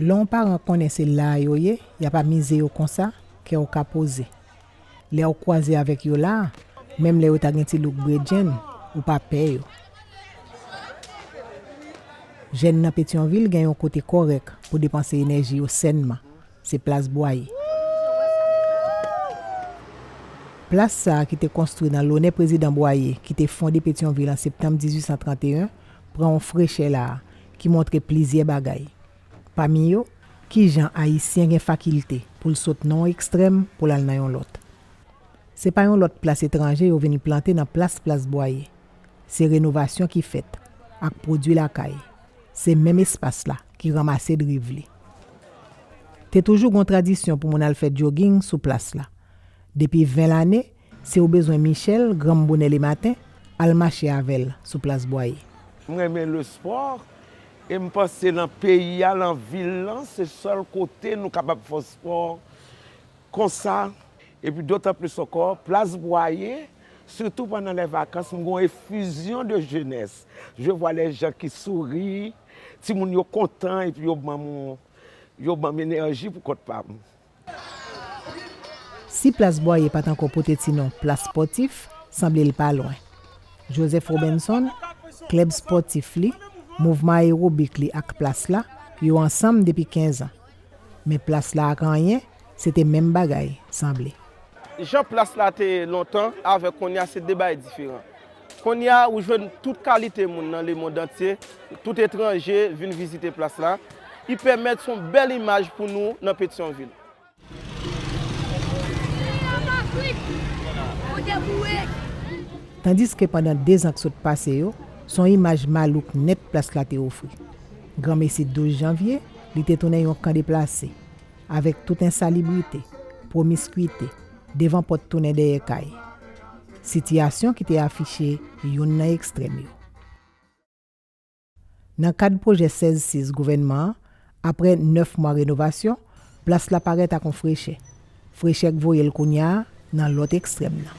Lè yon paran konnen se la a yo ye, y ap amize yo konsa, kè w ka poze. Lè ou kwaze avèk yo la, menm lè yo ta gen ti look bredjenn, ou pa pè yo. Jèn nan Petyonvil gen yon kote kòrèk pou depanse enèji yo sènman, se Plas Bwaye. Plas sa a ki te konstwi nan lonè Prezidan Bwaye ki te fonde Petyonvil an septanm 1831, pran yon frechè la a ki montre plizyè bagay, Pami yo, ki jan Ayisyen gen fakilte pou l sot nan yon ekstrèm pou l al nan yon lòt. Se pa yon lòt plas etranje yo vin plante nan plas Plas Bwaye. Se renovasyon ki fèt ak pwodui lakay. Se menm espas la ki ranmase driv li. Te toujou gon tradisyon pou moun al fè djoging sou plas la. Depi 20 lane, si ou bezwen Michel, granm bonè lematen, al mache avè l sou Plas Bwaye. M renmen lespò. E m panse lan peyi a, lan vil lan, se sèl kote nou kapab fè spò konsa. E pi dotan plis ankò, plas Bwaye, sitou pandan lè vakans, m gen yon efizyon de jenès. Je vwa lè jan ki souri, timoun yo kontan, e pi yo ban m, yo ban m enèji pou kont pa m. Si plas Bwaye pa t ankò pote ti non Plas Spòtif, sanble l pa lwen. Joseph Robinson, klèb spòtif li, mouvman ayewobik li ak plas la, yo ansanm depi kenzan. Men plas la ak anyen, se te menm bagay, sanble. Jan plas la te ye lontan avèk kounye a se de bagay diferan. Kounye a, ou jwenn tout kalite moun nan lemondantye, tout etranje vin vizite plas la. Ipèmèt son bèl imaj pou nou nan Petyonvil. Tandiske pandan dezan k sot pase yo, son imaj malouk nèt plas la te ofri. Granmesi 12 janvye, li te tounen yon kan deplase. Avèk tout ensalibrite, pwomiskwite, devan pòt tounen dèyè kay, sitiyasyon ki te afiche youn nan ekstrèm yo. Nan kad pwojè 16 sis gouvènman an, aprè 9 mwa renovasyon, plas la parèt ak on frechè, frechè k voye l kounya nan lòt ekstrèm nan.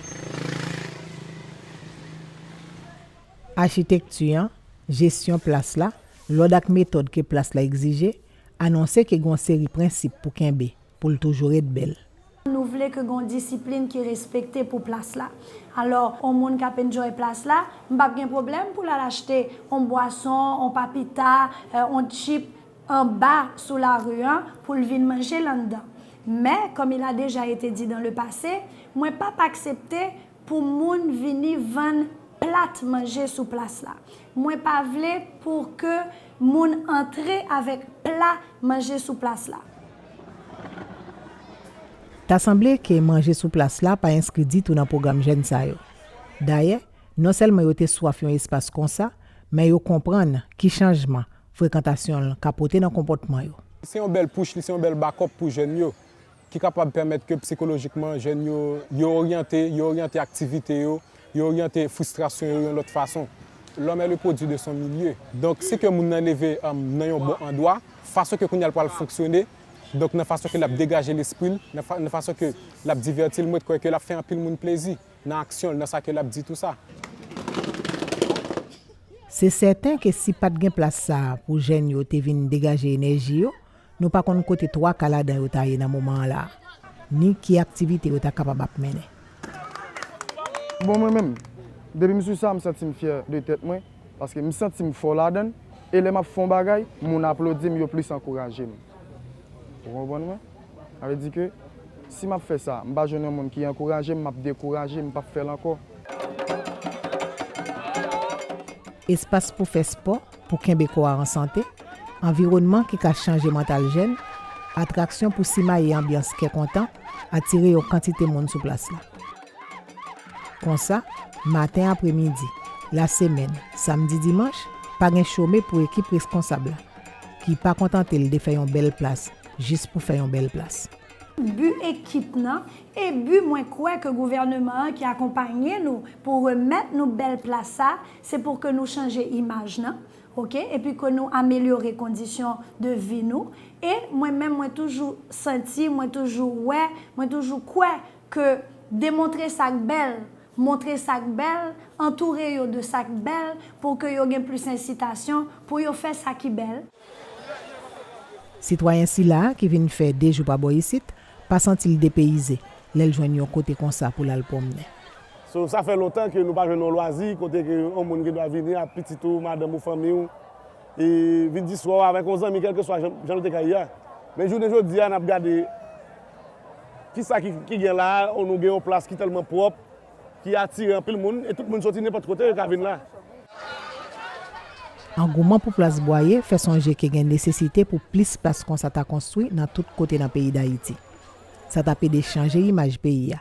Achitekti an, jesyon plas la, lòd ak metòd ke plas la egzije, anonse ke gen on seri prensip pou kenbe pou l toujou ret bèl. Nou vle ke gen yon disiplin ki respekte pou plas la. Alò, yon moun k ap enjoy plas la, m p ap gen pwoblèm pou l al achte yon bwason, yon papita, yon chip anba sou lari an pou l vin manje l anndan. Men, kòm il a deja ete di dans le passé, mwen p ap aksepte pou moun vini vann plat manje sou plas la. Mwen pa vle pou ke moun antre avèk pla manje sou plas la. Ta sanble ke manje sou plas la pa enskri ditou nan pwogram jèn sa yo. Dayè, non sèlman yo te swaf yon espas konsa, men yo konprann ki chanjman frekantasyon l ka pote nan konpòtman yo. Li se yon bèl push, li se yon bèl backup pou jèn yo. ki kapab pèmèt ke psikolojikman jèn yo, yo oryante, yo oryante aktivite yo, yo oryante fristrasyon yo yon lòt fason. L'homme est le produit de son milieu. Donk, si ke moun nan leve nan yon bon andwa, fason ke kounye a l pral fonksyone, donk nan fason ke l ap degaje lespri l, nan fason ke l ap divèti l, mwen kwè ke l ap fè anpil moun plezi, nan aksyon l, nan sa ke l ap di tou sa. Se sèten ke si pa t gen plas sa a pou jèn yo te vin degaje enèji yo, Nou pa konn kote twa ka ladan yo ta ye nan moman an la, ni ki aktivite yo ta kapab ap mennen. Bon mwen menm, depi m sou sa m santi m fyè de tèt mwen, paske m santi m fò ladan l, e lè m ap fè yon bagay, moun aplodi m, yo plis ankouraje m. Ou konprann mwen? Sa vle di ke si m ap fè sa, m pa jwenn yon moun ki ankouraje m, m ap dekouraje, m p ap fè l ankò. Espas pou fè spò. pou kenbe kò a an sante, anviwònman ki ka chanje mantal jèn, atraksyon pou simaye anbyans kè kontan, atire yon kantite moun sou plas la. Konsa, maten, apremidi, lasemèn, samdi, dimanch, pa gen chome pou ekip reskonsab la, ki pa kontante l de fè yon bèl plas jis pou fè yon bèl plas. Bi ekip nan, e bi mwen kwè ke gouvèneman an ki akonpanye nou pou remèt nou bèl plas sa, Se pou ke nou chanje imaj nan ok epi ke nou amelyore kondisyon de vi nou e mwen menm mwen toujou santi mwen toujou wè mwen toujou kwè ke demontre sak bèl montre sak bèl antoure yo de sak bèl pou ke yo gen plis ensitasyon pou yo fè sa ki bèl. Sitwayen sila a ki vin fè 2 jou pa bò isit, pa santi l depeyize lè l jwenn yon kote konsa pou l al pwomnen. So, sa fè lontan ke nou pa jwenn yon lwazi kote ke yon moun gen dwa vini ak pitit ou, madanm ou, fanmi ou, e vin di swa ou avèk yon zanmi kèlkeswa jan l te ka ye a. Men jounen jodi a, n ap gade kisa ki gen la a, nou gen yon plas ki tèlman pwòp, ki atire anpil moun e tout moun soti nenpòt kote yo ka vin la. Angouman pou plas Bwaye fè sonje ke gen nesesite pou plis plas konsa ta konstwi nan tout kote nan peyi Dayiti. Sa t ap ede chanje imaj peyi a,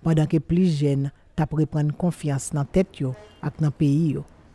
pandan ke plis jèn t ap reprann konfyans nan tèt yo ak nan peyi yo.